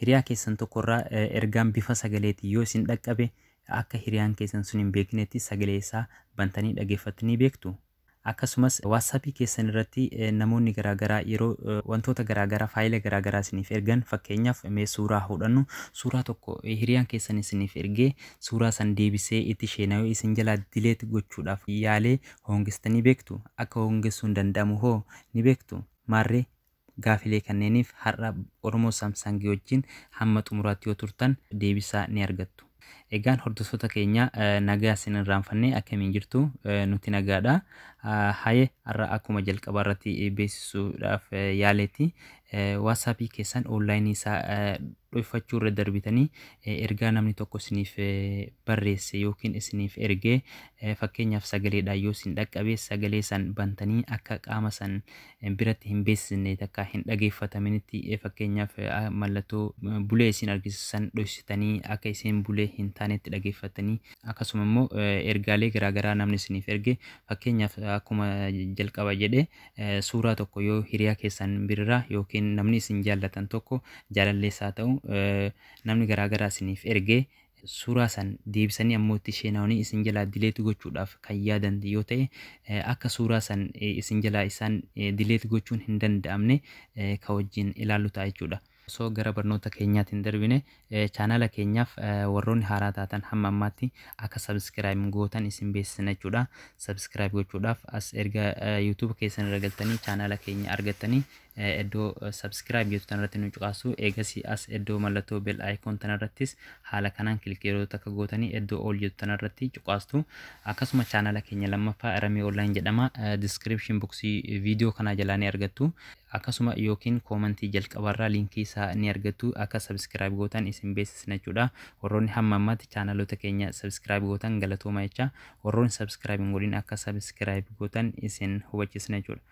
Hiriyaa keessan tokkorraa ergaan bifa sagaleetiin yoo isin dhaqqabe akka hiriyaan keessan sun hin beeknetti sagalee isaa bantanii dhaggeeffattanii beektu. Akkasumas waatsaappii keessan irratti namoonni garaagaraa yeroo wantoota garaagaraa faayila garaagaraa isiniif ergan fakkeenyaaf mee suuraa hodhannu suuraa tokko hiriyaan keessan isiniif ergee suuraa san deebisee itti sheenawee isin jalaa delete gochuudhaaf yaalee hoongestanii beektu? Akka hoongessuun danda'amu hoo ni beektu? Maarree gaafilee kanneeniif har'a Oromo Samsung wajjin hamma xumuraatti yoo turtan deebisaa ni argattu. Egaan hordoftoota keenya nagaa sin irraanfanne akkamiin jirtu? Nuti nagaadha. Haye har'a akkuma jalqabaarratti beeksisuudhaaf yaaleetti WhatsApp keessan online isaa dhoyfachuu irra darbitanii ergaa namni tokko isiniif barreesse yookiin isiniif erge fakkeenyaaf sagaleedhaan yoo isin dhaqqabe sagalee san bantanii akka qaama san biratti hin beeksisne takka hin dhageeffataminitti fakkeenyaaf mallattoo bulee isin argisiisu san dhoysitanii akka isin bulee hin taanetti dhageeffatanii akkasuma immoo ergaalee garaagaraa namni isiniif erge fakkeenyaaf akkuma jalqaba jedhe Suuraa tokko yoo hiriyaa keessan birira yookiin namni isin jaallatan tokko jaalallees haa ta'u namni garaa garaa isiniif erge suuraa san deebisanii ammoo itti sheenaawanii isin jalaa dileeti gochuudhaaf kan yaadan yoo ta'e akka suuraa san isin jalaa isaan dileeti gochuun hin danda'amne ka wajjin ilaallu ta'a jechuudha. Osoo gara barnoota keenyaatti hin darbine chaanaala keenyaaf warroonni haaraa taatan hamma ammaatti akka subscribe gootan isin beeksisna jechuudha. Subscribe gochuudhaaf as erga YouTube keessan irra galtanii chaanaala keenya argattanii iddoo subscribe jettu tanarratti nu cuqaasu eegasii as iddoo mallattoo bell icon tanarrattis haala kanaan kilikii yeroo takka gootanii iddoo all jettu tanarratti cuqaastu akkasuma chaanaala keenya lammaffaa Ramee Online jedhama description boxii viidiyoo kanaa jalaa ni argattu. Akkasuma yookiin koomantii jalqabarraa linkii isaa ni argattu akka subscribe gootan isin beeksisna jechuudha. Warroonni hamma ammaatti chaanaloota keenya subscribe gootan galatooma jecha warroonni subscribe hin godhin akka subscribe gootan isin hubachiisna jechuudha.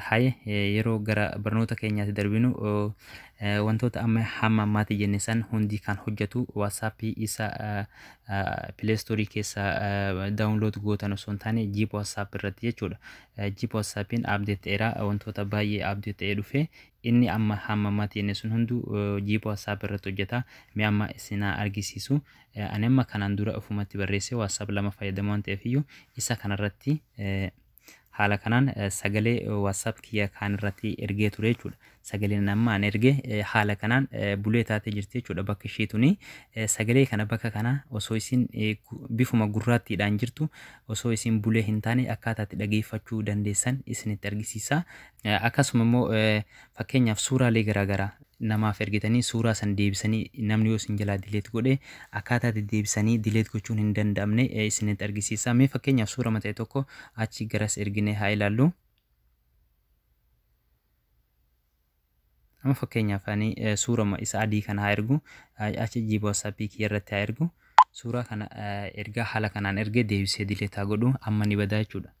Haye yeroo gara barnoota keenyaatti darbinu wantoota amma hamma ammaatti jenne san hundi kan hojjetu WhatsApp isa Play Store keessa download gootan osoo hin taane Jeep WhatsApp irratti jechuudha. Jib whatsapp hin update ta'era wantoota baay'ee update ta'ee dhufe inni amma hamma mati inni sun hundu jib whatsapp irratti hojjeta mee amma isin haa argisiisu ani amma kanaan dura ofumatti barreesse whatsapp lama fayyadamu waan ta'eef iyyuu isa kanarratti haala kanaan sagalee whatsapp kiyya kaan irratti ergee ture jechuudha Sagaleen ani amma an erge haala kanaan bulee taatee jirti jechuudha bakka ishii tuni. Sagalee kana bakka kana osoo isin bifuma gurraattiidhaan jirtu osoo isin bulee hin taane akkaataa itti dhageeffachuu dandeessan isinitti argisiisa. Akkasuma immoo fakkeenyaaf suuraalee garaagaraa namaaf ergitanii suuraa san deebisanii namni yoo isin jalaa dileet godhe akkaataa itti deebisanii dileet gochuun hin danda'amne isinitti argisiisa. Mee fakkeenyaaf suura mata'e tokko achi garas erginee haa ilaallu. Amma fakkeenyaaf ani suurama isa adii kana haa ergu. HGB WhatsApp kiyya irratti haa ergu. Suuraa kana ergaa haala kanaan ergee deebisee dileet haa godhu. Amma ni badaa jechuudha.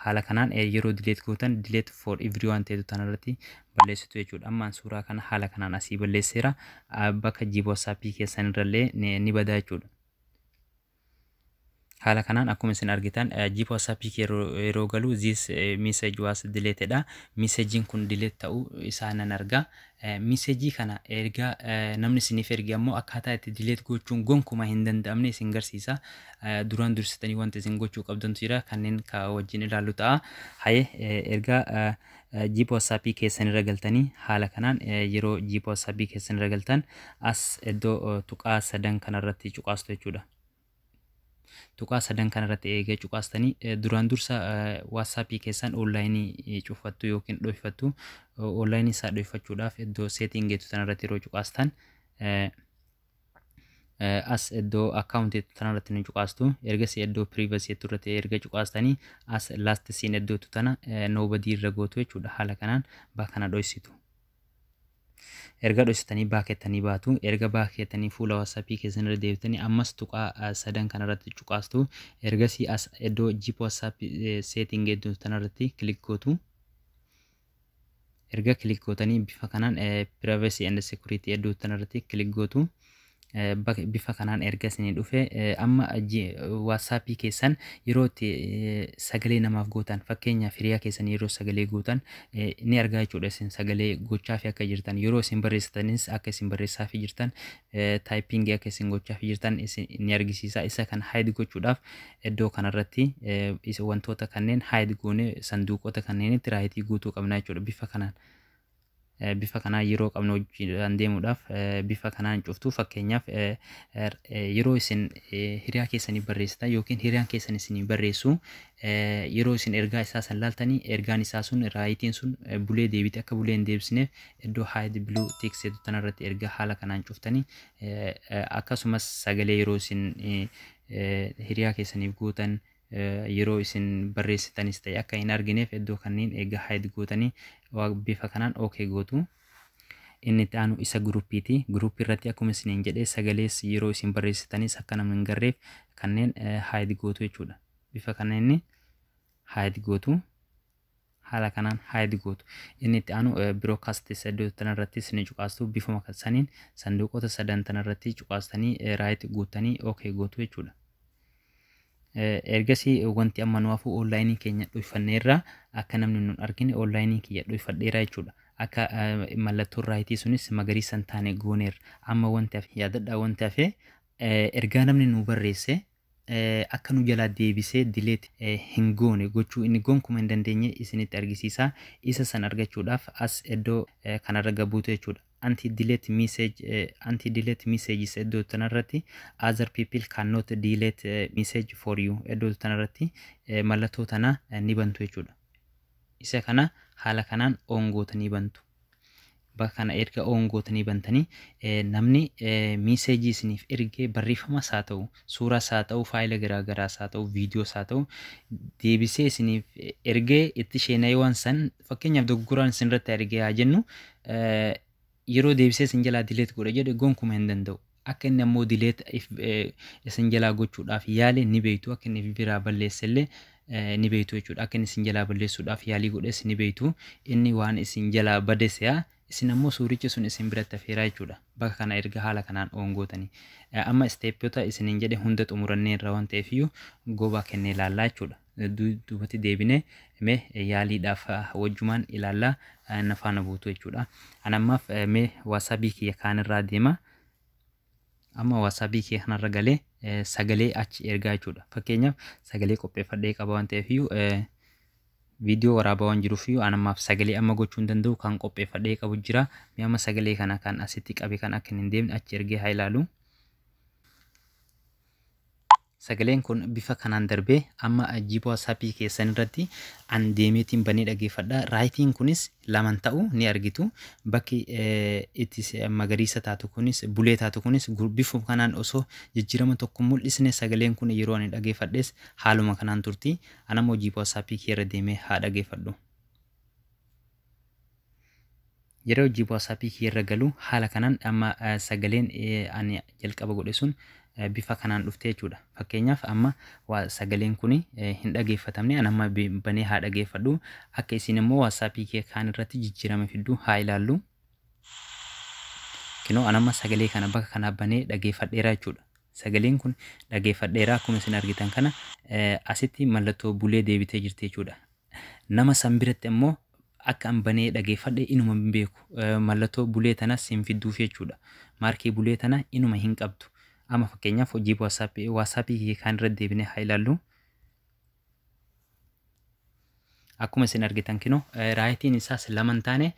Haala kanaan yeroo dileet gootan dileet for everyone ta'etu tan irratti balleessitu jechuudha. Amma suuraa kana haala kanaan asii balleesseera. Bakka GB WhatsApp keessan irrallee ni badaa jechuudha. Haala kanaan akkuma isin argitan jeep WhatsApp kee yeroo galu this message was deleted dha. Messaging kun delete ta'uu isaa nan arga. Messagii kana erga namni isiniif erge ammoo akkaataa itti delete gochuun gonkuma hin danda'amne isin garsiisa. Duraan dursitanii wanti isin gochuu qabdantu jira kanneen ka wajjin ilaallu ta'a. Haye erga Gposapi keessan irra galtanii haala kanaan yeroo gposapi keessan irra galtan as iddoo tuqaa sadan kana irratti cuqaastu jechuudha. Tuqaa sadan kana irratti eega cuqaastanii duraan dursa WhatsApp keessan onlaayinii cufattu yookiin dhoyfattu onlaayinii isaa dhoyfachuudhaaf iddoo seetiin geetu sana irratti yeroo cuqaastan As iddoo account jettu tanarratti ni cuqaastu. Ergasii iddoo privacy jettu irratti erga cuqaastanii as last seen iddoo jettu tana nobody irra gootu jechuudha. Haala kanaan baa kana dhoysitu. Erga dhoysitanii baa kettanii baatu. Erga baa kettanii fuula WhatsApp keessan irra deebitanii ammas tuqaa sadan kanarratti cuqaastu. Ergasii as iddoo Jeep WhatsApp setting jettu tanarratti click gootu. Erga click gootanii bifa kanaan privacy and security edduu tanarratti click gootu. bifa kanaan erga isinii dhufe amma waatsaappii keessan yeroo itti sagalee namaaf gootan fakkeenyaaf hiriyaa keessan yeroo sagalee gootan ni argaa jechuudha isin sagalee gochaa fi akka jirtan yeroo isin barreessitanis akka isin barreessaa fi jirtan typing akka isin gochaaf jirtan ni argisiisa isa kan hide gochuudhaaf iddoo kanarratti wantoota kanneen hide goone sanduuqota kanneenitti raayitii guutuu qabna jechuudha bifa kanaan bifa kanaa yeroo qabnu hojiidhaan deemuudhaaf bifa kanaan cuftu fakkeenyaaf yeroo isin hiriyaa keessanii barreessitan yookiin hiriyaan keessan isinii barreessu yeroo isin ergaa isaa san laaltanii ergaan isaa sun raayitiin sun bulee deebite akka bulee hin deebisneef iddoo hide blue tick seetu tana irratti erga haala kanaan cuftanii akkasumas sagalee yeroo isin hiriyaa keessaniif gootan yeroo isin barreessitanis ta'e akka hin argineef iddoo kanneen egaa hide gootanii bifa kanaan ok gootu. Inni itti aanu isa guruppiiti. Guruppii irratti akkuma isiniin jedhee sagalees yeroo isin barreessitanis akka namni hin garreef kanneen hide gootu jechuudha. Bifa kanneen hide gootu. haala kanaan hide gootu. Inni itti aanu broadcast saddoo tana irrattis ni cuqaastu bifuma kan saniin sanduuqota sadan tana irratti cuqaastanii right guuttanii ok gootu jechuudha. Ergasii wanti amma nu hafu online keenya dhuyfanneerra akka namni nun argine online kiyya dhuyfadheera jechuudha. Akka mallattoon raayitii sunis magariisa hin taane gooneerra. Amma wanti hafe yaadadha wanti hafe ergaa namni nu barreesse akka nu jalaa deebisee delete hin goone gochuu inni gonkuma hin dandeenye isinitti argisiisa. Isa san argachuudhaaf as eddoo kanarra gad buutu jechuudha. Anti delete message anti delete messages eddoo tanarratti other people cannot delete message for you eddoo tanarratti mallattoo tana ni bantu jechuudha. Isa kana haala kanaan on gootanii bantu. bakka kana erga oon gootanii bantanii namni miiseejii isiniif ergee barreeffamas haa ta'u suuras haa ta'u faayila garaagaraas haa ta'u viidiyoos haa ta'u deebisee isiniif ergee itti sheenayiwaan san fakkeenyaaf doggoraan isinirratti argee haa jennu yeroo deebisee isin jalaa dileet godha jedhe gonkuma hin danda'u. Akka inni ammoo delete if isin jalaa gochuudhaaf yaale ni beektu, akka inni fb irraa balleesse illee ni beektu jechuudha. Akka inni isin jalaa balleessuudhaaf yaalii godhes ni beektu. Inni waan isin jalaa bade se'a, isin ammoo suuricha sun isin biratti hafeera jechuudha. Bakka kana erga haala kanaan on gootanii. Amma stepota isiniin jedhe hunda xumuranneerra waan ta'eefiyyuu go back jennee ilaallaa jechuudha. duubatti deebinee mee yaaliidhaaf wajjumaan ilaalla na faana buutu jechuudha. An ammaaf mee waasaabii kiyya kaanirraa deema. Amma waasaabii kiyya kanarra galee sagalee achi ergaa jechuudha. Fakkeenyaaf sagalee qopheeffadhee qaba waan ta'eef iyyuu viidiyoo waraabaa waan jiruuf iyyuu an ammaaf sagalee amma gochuu hin danda'u kan qopheeffadhee qabu jira. Mee amma sagalee kana kan asitti qabe kan akka hin deemne achi ergee haa ilaalu. Sagaleen kun bifa kanaan darbee amma jibo WhatsApp keessan irratti an deemeetiin banee dhageeffadha. Raayitiin kunis laman ta'u ni argitu. Bakki itti magariisa taatu kunis bulee taatu kunis bifa kanaan osoo jijjiirama tokko mul'isne sagaleen kun yeroo ani dhageeffadhes haaluma kanaan turti. Anammoo jibo WhatsApp kiyya irra deemee haa dhageeffadhu. Yeroo hojii WhatsApp kee irra galu haala kanaan amma sagaleen ani jalqaba godhe sun bifa kanaan dhufte jechuudha. Fakkeenyaaf amma sagaleen kun hin dhageeffatamne an amma banee haa dhageeffadhu akka isin immoo WhatsApp kee kaan irratti jijjiirama fidduu haa ilaallu. Kinoo an amma sagalee kana bakka kanaa banee dhageeffadheera jechuudha. Sagaleen kun dhageeffadheera akkuma isin argitan kana asitti mallattoo bulee deebitee jirti jechuudha. Nama san biratti ammoo akka an banee dhageeffadhe inuma hin beeku. Mallatoo bulee tanas hin fidduufi jechuudha. Maarkii bulee tana inuma hin qabdu. Amma fakkeenyaaf hojii WhatsApp WhatsApp kiyya kaan irra deebinee haa ilaallu. Akkuma isin argitan kinoo raayitiin isaas lama hin taane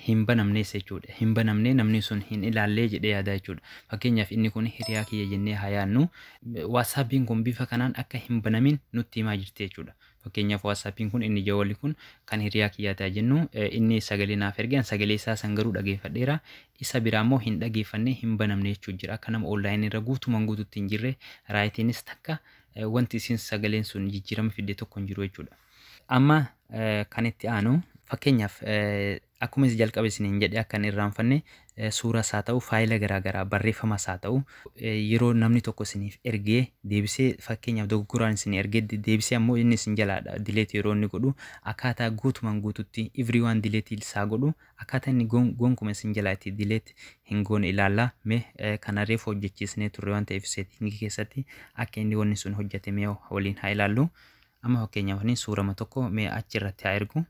hin banamnees jechuudha. Hin banamnee namni sun hin ilaallee jedhee yaadaa jechuudha. Fakkeenyaaf inni kun hiriyaa kiyya jennee haa yaannu. WhatsAppiin kun bifa kanaan akka hin banamin nutti himaa jirti jechuudha. Fakkeenyaaf WhatsApp'n kun inni jawalli kun kan hiriyaa kiyyaati haa jennu. Inni sagalee naaf erge an sagalee isaa san garuu dhageeffadheera. Isa biraa immoo hin dhageeffanne hin banamne jechuun jira. Akka nama online irra guutumaan guututti hin jirre raayitiinis takka wanti isin sagaleen sun jijjiirama fidde tokko hin jiru jechuudha. Amma kan itti aanu fakkeenyaaf Akkuma isa jalqaba isiniin jedhe akka hin irraanfanne suuras haa ta'u faayila garaa garaa barreeffamas haa ta'u yeroo namni tokko isiniif ergee deebisee fakkeenyaaf dogoggoraan isin ergee de- deebisee ammoo inni isin jalaadha dileeti yeroo inni godhu akkaataa guutumaan guututti everyone dileeti isaa godhu akkaataa inni gon- gonkuma isin jalaa itti dileeti hin goone ilaalla mee eh, kana reefu hojjechiisnee turre waan ta'eef seetiingii keessatti akka inni wanni sun hojjetame waliin haa ilaallu amma fakkeenyaaf ani suurama tokko mee achi irratti haa ergu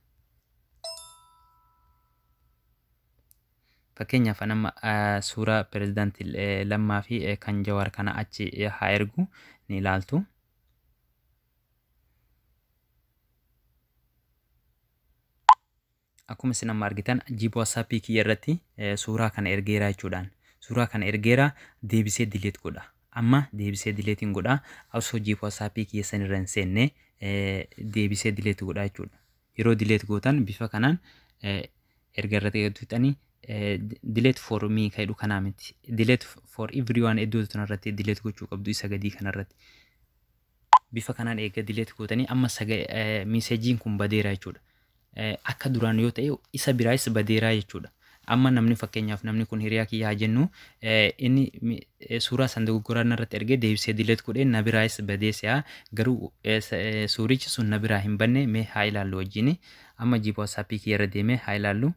Fakkeenyaaf an amma eh, suuraa pirezidaant eh, Lammaa fi eh, kan Jawaar kana achi eh, haa ergu ni ilaaltu. Akkuma isin amma argitan jiiba watsaappii kiyya irratti eh, suuraa kana ergeera jechuudhaan. Suuraa kana ergeera deebisee dileet godha. Amma deebisee dileetiin godha. Osoo jiiba watsaappii kiyya san irra hin seenne eh, deebisee dileet godha jechuudha. Yeroo delete gootan bifa kanaan erga irratti eeggattu fixanii delete for me ka jedhu kanaa miti. Delete for everyone iddoo tana irratti delete gochuu qabdu isa gadii kana irratti. Bifa kanaan eega delete gootanii amma miiseejiin kun badeera jechuudha. Akka duraan yoo ta'e isa biraayis badeeraa jechuudha. Amma namni fakkeenyaaf namni kun hiriyaa kiyya haa jennu inni suuraa san dogoggoraa narratti ergee deebisee dileet godhee na biraayis badee si'a garuu suurichi sun na biraa hin banne mee haa ilaallu wajjin amma jiipa watsaappii kiyya irra deemee haa ilaallu.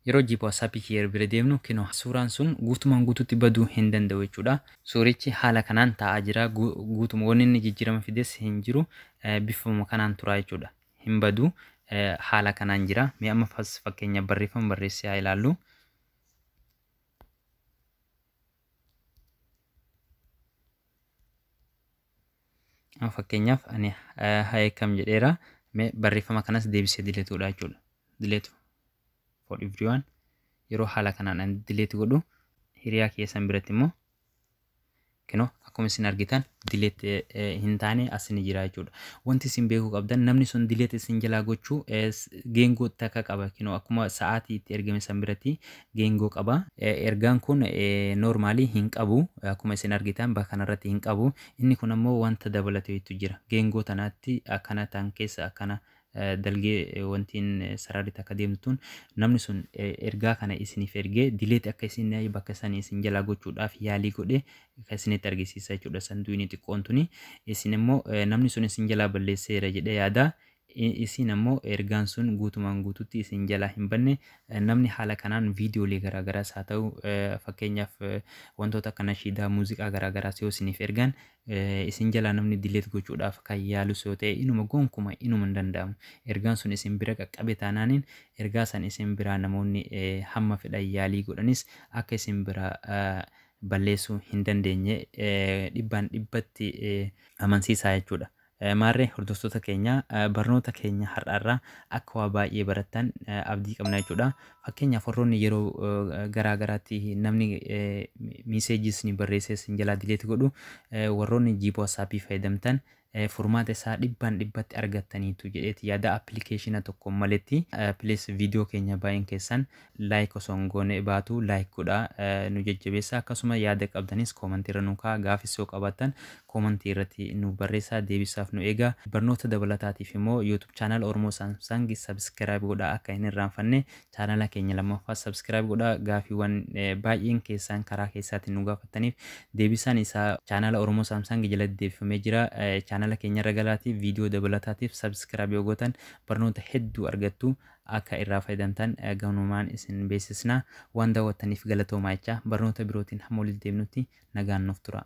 Yeroo jiipa watsaappii kiyya irra bira deemnu kinoo suuraan sun guutumaan guututti baduu hin danda'u jechuudha. Suurichi haala kanaan taa'aa jira guutuma wanni inni jijjiirama fides hin jiru bifuma kanaan turaa jechuudha. hin badu. Haala kanaan jira. Mee amma fas fakkeenyaaf barreeffama barreessee haa ilaallu. Amma fakkeenyaaf ani hayeekam jedheera. Mee barreeffama kanas deebisee dileetuudha jechuudha. Dileetu for everyone yeroo haala kanaan ani dileetu godhu hiriyaa keessan biratti immoo Kino akkuma isin argitan dileet hin taane as ni jira jechuudha. Wanti isin beekuu qabdan namni sun dileet isin jalaa gochuu geengoo takka qaba. Kino akkuma sa'aatii itti ergame san biratti geengoo qaba. Ergaan kun noormaalii hin qabu. Akkuma isin argitan bakka kanarratti hin qabu. Inni kun ammoo wanta dabalatu hedduu jira. Geengoo tanaatti akkana tan keessa akkana dalgee wantiin sararri takka deemtu tun namni sun ergaa kana isiniif ergee dileeti akka isin bakka sanii isin jalaa gochuudhaaf yaalii godhe kan isinitti argisiisa jechuudha sanduunii xiqqoon tuni isin immoo namni sun isin jalaa balleesseera jedhee yaada isin ammoo ergaan sun guutumaan guututti isin jalaa hin banne namni haala kanaan viidiyoolee garaagaraas haa ta'u fakkeenyaaf wantoota akka nashiidaa muuziqaa garaagaraas yoo isiniif ergan Isin jalaa namni delete gochuudhaaf kan yaalus yoo ta'e inuma gonkuma inuma hin danda'amu. Ergaan sun isin bira qaqqabe taanaaniin ergaa san isin biraa namoonni hamma fedhan yaalii godhanis akka isin biraa balleessuu hin dandeenye dhibbaan dhibbatti amansiisaa jechuudha. Maarree hordoftoota keenya barnoota keenya har'aarraa akka waa baay'ee barattan abdii qabna jechuudha. Fakkeenyaaf warroonni yeroo garaa garaatti namni miiseejii isin barreessee isin jalaa dileeti godhu warroonni jiiboo asaappii fayyadamtan furmaata isaa dhibbaan dhibbatti argattaniitu jedheeti yaada appilikeeshina tokko maletti. Please viidiyoo keenya baay'een keessan Like osoo hin goone baatu like godhaa nu jajjabeessaa akkasuma yaada qabdanis comment irra nu kaa'a gaafis yoo qabaattan comment irratti nuuf barreessaa deebisaaf nu eegaa barnoota dabalataatiif immoo youtube channel oromoo samsung subscribe godhaa akka hin irraanfanne channel keenya lammaffaa subscribe godhaa gaafiiwwan baay'een keessaan karaa keessaatiin nu gaafattaniif deebisaan isaa channel oromoo samsung jalatti deebifamee jira channel keenya irra galaatii viidiyoo dabalataatiif subscribe yoo gootan barnoota hedduu argattu akka irraa fayyadamtan gamanumaan isin beeksisna. Waan daawwattaniif galatoomaa jechaa barnoota birootiin hamma walitti deebinutti nagaan nuuf turaa.